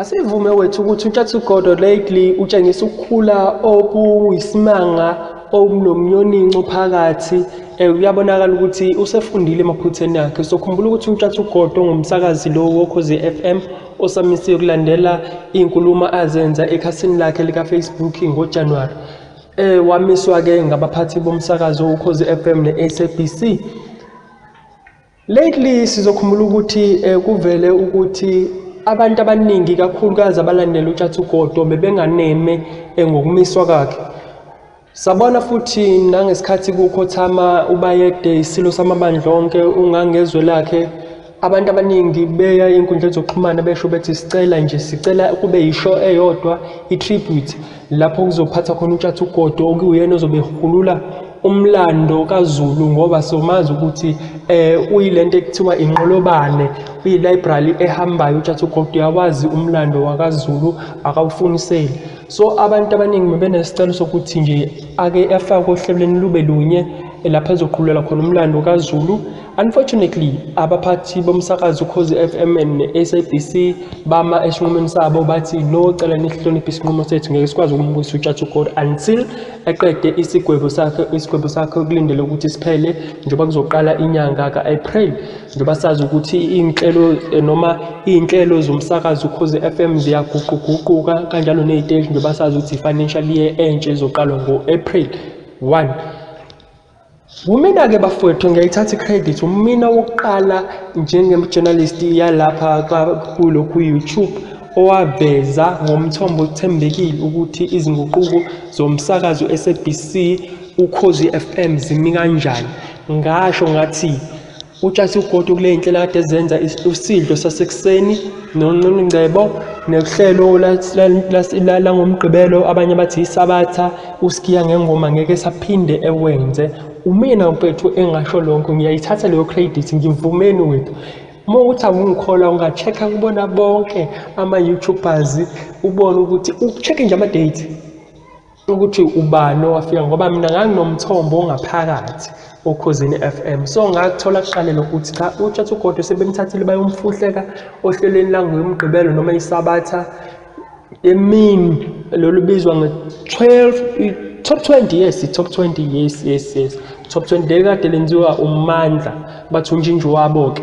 Asivume wethu ukuthi uTshatsugodo lately utshengisa ukukhula okuyisimanga okunomnyoninco phakathi um kuyabonakala ukuthi usefundile emaphutheni akhe sokhumbula ukuthi utshathugodo ngumsakazi lo wokhozi f m osamisiwe kulandela iy'nkulumo azenza ekhasini lakhe likafacebook ngojanuwari um wamiswa-ke ngabaphathi bomsakazo ukhozi f m ne-sabc Lately sizokhumbula ukuthi eh, kuvele ukuthi abantu abaningi kakhulukazi abalandela uTshatha uGodo bebenganeme eh, ngokumiswa kwakhe. Sabona futhi nangesikhathi kukhothama uBayede isilo samabandla onke ungangezwe lakhe abantu abaningi beya enkundleni zokuxhumana besho bethi sicela nje sicela kube yisho eyodwa i-tribute lapho kuzophatha khona utshatha ugodo okuyena ozobe ehulula umlando kaZulu ngoba somazi ukuthi eh uyilento ekuthiwa inqolobane uyi-library ehambayo utshatha ugodo uyawazi umlando wakaZulu akawufuniseli so abantu abaningi bebenesicelo sokuthi nje ake afakwe ohlelweni lube lunye lapho ezoqhulula khona umlando kaZulu Unfortunately, abaphathi bomsakazo ukhozi FM ne-SABC bama esinqumweni sabo bathi no cela nihloniphe isinqumo sethu ngeke sikwazi ukumbuyisa utshatha ugold until eqede isigwebo sakhe isigwebo sakhe okulindele ukuthi siphele njengoba kuzoqala inyanga ka-april njengoba sazi ukuthi iy'nhlelo eh, noma iy'nhlelo zomsakazo ukhozi FM ziyaguquguquka kanjalo ney'teshi njengoba sazi ukuthi i-financial year entsha ezoqalwa ngo-april 1 Wumina-ke bafowethu ngiyayithatha i-credit wumina wokuqala njenge-journalist yalapha kulokhu ku-youtube owaveza ngomthombo othembekile ukuthi izinguquko zomsakazo u-sabc ukhozi FM zimi kanjani ngasho ngathi Utshasi ugodo kule nhlelo kade ezenza usidlo sasekuseni nonqunu ngcebo nohlelo langomgqibelo abanye bathi isabatha usikiya ngengoma ngeke saphinde ewenze umina mfethu engasho lonke ngiyayithatha leyo credit ngivumeni wethu uma ukuthi awungikholwa unga-check-a kubona bonke ama-youtubers ubone ukuthi u-check-e nje ama-date ukuthi ubani owafika ngoba mina nganginomthombo ongaphakathi okhozini FM so ngakuthola kuqale lokho ukuthi cha utshatha ugodo sebemthathile bayomfuhleka ohlelweni langomgqibelo noma isabatha emini lolu bizwa nge-12 top 20 yes top 20 yes yes yes top 20 lekade lenziwa umandla bathi unjinji wabo-ke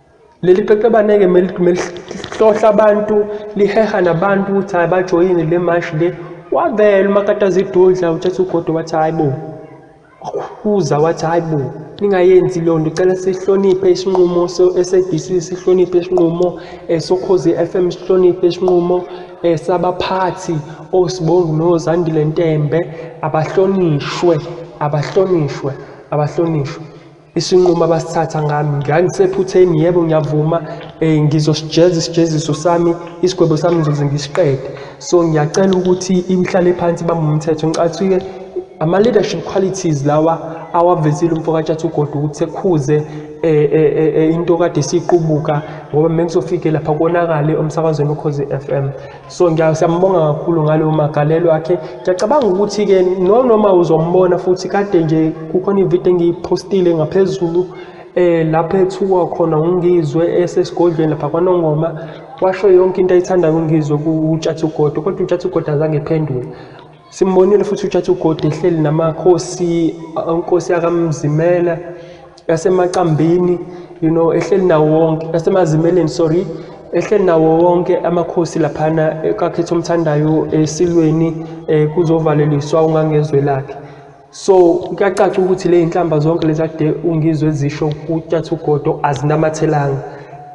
Leli qeqebaneke melihlohla abantu liheha nabantu ukuthi hayi bajoyine le mashi le wavela umakataza idudla uthatha ugodo wathi hayi bo wakhuza wathi hayi bo ningayenzi leyo nto cela sihloniphe isinqumo se-sabc sihloniphe isinqumo um eh, sokhozi f m sihloniphe isinqumo um sabaphathi osibongi nozandile ntembe abahlonishwe abahlonishwe abahlonishwe isinqumo abasithatha ngami ngangisephutheni yebo ngiyavuma um ngizosijeza isijeziso sami isigwebo sami ngizoze ngisiqede so ngiyacela ukuthi ihlale phansi bamba umthetho ngicathi-ke ama-leadership qualities lawa awavezile umfokatshatha ugodi ukuthi sekhuze eh, eh, eh, into kade siyiqubuka ngoba mengizofike lapha konakale umsakazweni ukhozi FM so siyambonga kakhulu ngaleyo magalelo akhe ngiyacabanga ukuthi-ke nonoma uzombona futhi kade nje kukhona ividiyo engiyiphostile ngaphezulu eh lapho ethuka khona ungizwe esesigodlweni lapha kwanongoma washo yonke into ayithandayo ungizwe kutshatha ugodo kodwa utshatha ugodo azange ephendule Simbonile futhi uJaji uGodi ehleli namakhosi onkosi yakamzimela yasemacambini you know ehleli nawo wonke yasemazimeleni sorry ehleli nawo wonke amakhosi laphana kakhetha omthandayo esilweni eh, kuzovaleliswa ungangezwe lakhe so kuyacaca ukuthi le inhlamba zonke lezi ade ungizwe zisho kutshathugodo azinamathelanga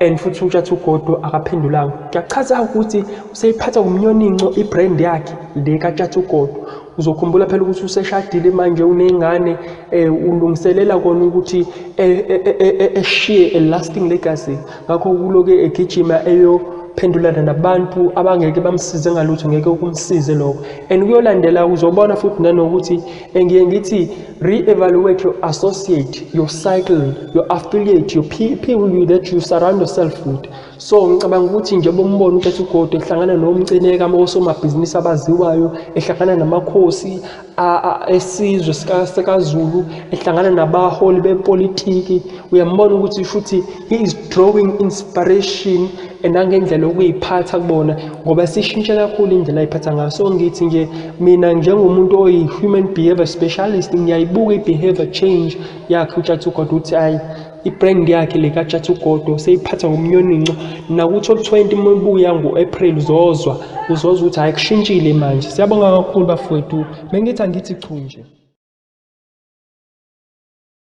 and futhi utshathugodo akaphendulanga kuyachaza ukuthi useyiphatha ngomnyoninco ibrand yakhe le katshathugodo uzokhumbula phela ukuthi useshadile manje uneyngane um ulungiselela kona ukuthi eshiye a lasting legacy ngakho uloke egijima eyophendulana nabantu abangeke bamsize ngalutho ngeke ukumsize lokho and kuyolandela uzobona futhi nanokuthi engiye ngithi re-evaluate your associate your cycle your affiliate your people that you surround yourself with so ngicabanga ukuthi nje bombona ukuthi ugodo ehlangana nomcineka osomabhizinisi abaziwayo ehlangana namakhosi esizwe sikaZulu ehlangana nabaholi bepolitiki uyambona ukuthi futhi he is drawing inspiration nangendlela okuyiphatha kubona ngoba sishintshe kakhulu indlela ayiphatha ngayo so ngithi nje mina njengomuntu oyi-human behavior specialist ngiyayibuka i-behavior change yakhe utshathugoda ukuthi ayi Ibrand yakhe le kaJathi uGodo seyiphatha ngomnyoninco nakuthi olu-20 uma ibuya ngo-April uzozwa uzozwa ukuthi hhayi kushintshile manje. Siyabonga kakhulu bafowethu. Bengithi angithi chu nje.